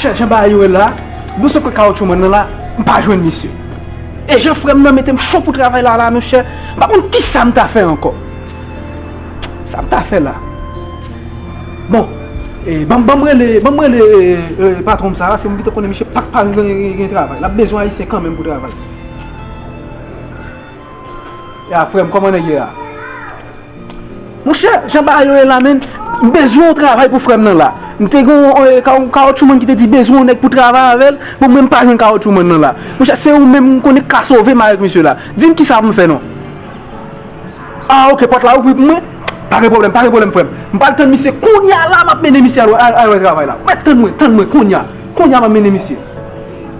Chè jan bagay yo ye la, nou se kwe kawotchou mwen nan la, m pa jwenn misye. E jan frè m nan mete m cho pou travay la la monchè, m pa konn kisa m ta fè ankò. Sa m ta fè la? Bon, ban m rele, ban m rele patwon m sa a, se m ki te konnen misye pa t pa gen travay. L ap bezwen ayisyen kanmenm pou travay. Ya frem koman neg ye a. Monchè jan bagay yo ye la menn m bezwen yon travay pou frèm nan la m te gen yon kawotchou man ki te di bezwen yon nèg pou travay avèl bon mwen m pa jwenn kawotchou man nan la monchè se ou menm m konnen k ka sove m avèk misye la dim kisa pou m fè non ah ok pòt la ouvri pou mwen pa gen pwoblèm pa gen pwoblèm frèm m pral tann misye kounya la m ap mennen misye al wè travay la tann mwen tann mwen kounya kounya m ap mennen misye.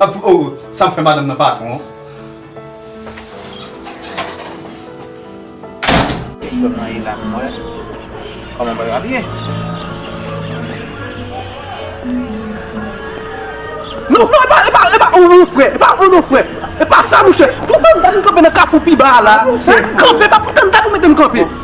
Ap oh sam fè madanm nan patron. Eskew marié la avm wè Koman bagay yo ap ye. Non non epa epa epa ou non frè epa ou non frè epa sa mouche poutan m gad m kanpe nan kafou pi ba a la kanpe epa poutan m gad ou mete m kanpe.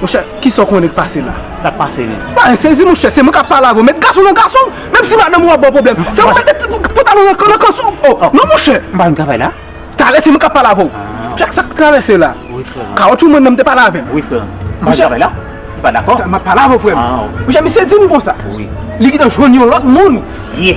Monchè, kisa ou konnen k pase la? Sa k pase menm? Ba en sezi monchè, se mwen k ap pale avè w. Met gason nan gason, menm si madanm ou ap ba w pwoblèm. Se ou mete pantalon nan kans ou. O, non monchè! M pa vin travay la? Talè se mwen k ap pale avè w. Chak sa k travèse la. Wi frè m. Kawotchou mwen nan m te pale avè l. Wi frè m. M pa vin travay la? Ou pa dakò? M ap pale avè w frè m. Monchè misye di m konsa. Wi. Li gentan jwenn yon lòt moun. Siye!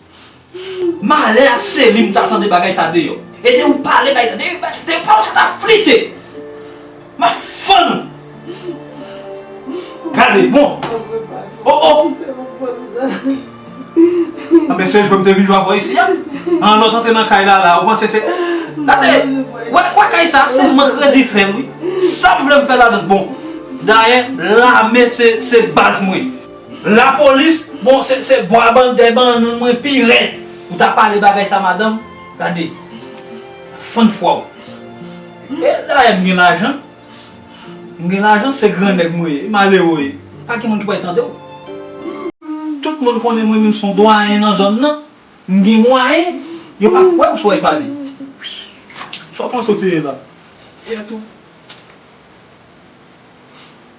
Malè a Selim ta tande bagay sa deyò e de ou pale bay de pawòl sa ta flite ma fann gade bon oh oh anben se jwèm te vin jwe avèw isi an an lòt antre nan kay lala ou panse se gade wè kay sa se mank kredi fèm wi sam vlem fè ladann bon dayè lame se baz mwen. La police bon se se bon a ban dè ban nou mwen pi rèd ou ta pale bagay sa madanm gade fann fwa ou e dayè m gen lajan m gen lajan se gran nèg mwen ye malero ye pa gen moun ki pral tande w. Tout moun konnen mwen menm son dwayen nan zòn nan m gen mwayen yo pa kwè w sou ay pale sa w panse w te ye la yè tou.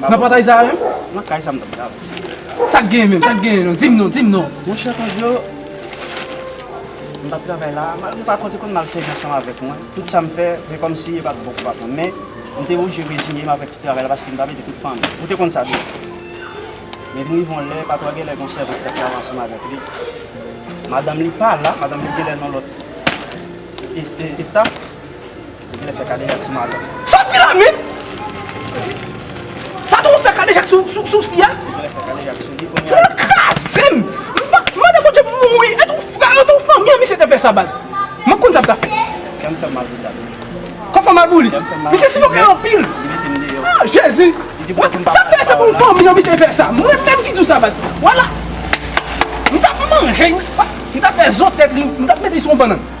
Nan pòtay sa a menm? Nan kay sa m t ap travay. Sa k genyen menm? Sa k genyen non? Di m non, di m non! Monchè Kandjo, m t ap travay la a, malgre pa kont li konn mal sèvi ansanm avèk mwen, tout sa m fè se kòmsi e pa t bon pou patwon m. Men, m te oblije reziye m avèk ti travay la paske m t ap ede tout fanmi m. Ou te konn sa tou. Men vin rive yon lè, patwon an genlè gen yon sèvant ki t ap travay ansanm avèk li. Madanm li pa la, madanm li genlè nan lòt eta. Ou vle fè kadejak sou madanm. Soti la menn! Patron ou fè kadejak sou fi a? Ou vle fè kadejak sou li kounya. Pran kraze m! Mande Bondye pou m mouri. E tou frè yo tou fanmi an misye te fè sa baz. M ap konn sa m ka fè. Kè m fè m mal pou sa tou. Kè w fè w mal pou li? Misye sifoke anpil. Li mete m deyò. Ah Jezi! Sa m fè se pou fanmi an misye fè sa. Mwen menm ki di w sa baz. Wala! M t ap manje. M t ap fè zo tèt li. M t ap mete li sou yon bannann.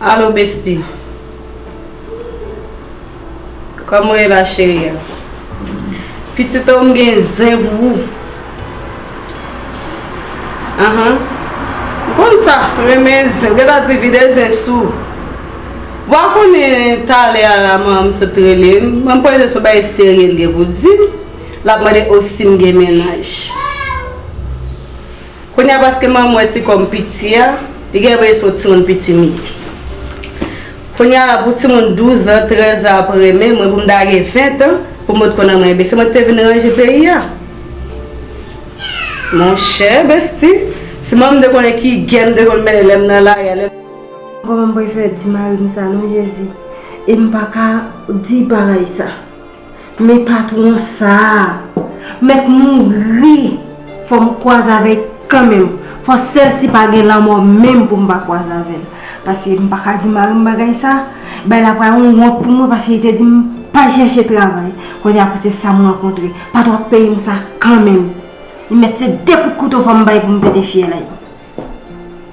Allo besti Kòman ou ye la cherie a Pitit oh m gen zen pou ou Ahaa Ou konn sa m renmen zen Ou gentan di vide zen sou ou Wa konnen talè a la manman m sot rele m Mwen panse son bagay serye l gen pou di m Lap mande oh si m gen mennaj. Kounya paske manman wè ti kòm piti a, li gen vle sot timoun pitimi. Kounya la pou timoun 12 an, 13 an ap renmen mwen pou m ta gen 20 an pou mwen t konn renmen ebyen se mwen ki te vin ranje peyi a. Monchè besti, si manman m te konnen ki gè m te konn mennen lè m nan lari a, lè m. Kòman m pral fè di mari m sa non Jezi e m pa ka di paray sa. Men patron sa Met mouri fom kwazavey kanmenm fo sel si pa gen lanmo menm poum pa kwazavel paske m paka di mari m bagay sa bay la pral yon wont pou mwen paske li te dim pa chèche travay kounye a pou se sam rankontre patron ap peyem sa kanmenm li met se 2 kout kouto fom bay poum pete fyèl.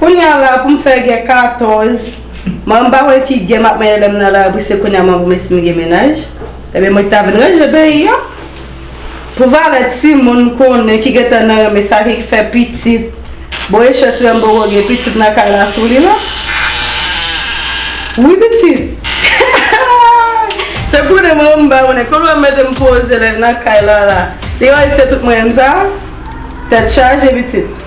Kounya la poum fè gen 14 m'en pa wè ki gen map manyen lèm nan lari se kounya m'en vle sim gen mennaj ebyen mwen ki ta vin ranje peyi an pou valè timoun m'konnen ki gentan nan renmen sa ki fè pitit bon e chans lèm poko gen pitit nan kay la sou li la wi pitit se konnen mwen menm m'en konnen kote wap metem poze lèm nan kay la la li wè se tout mwen menm sa tèt chaje pitit.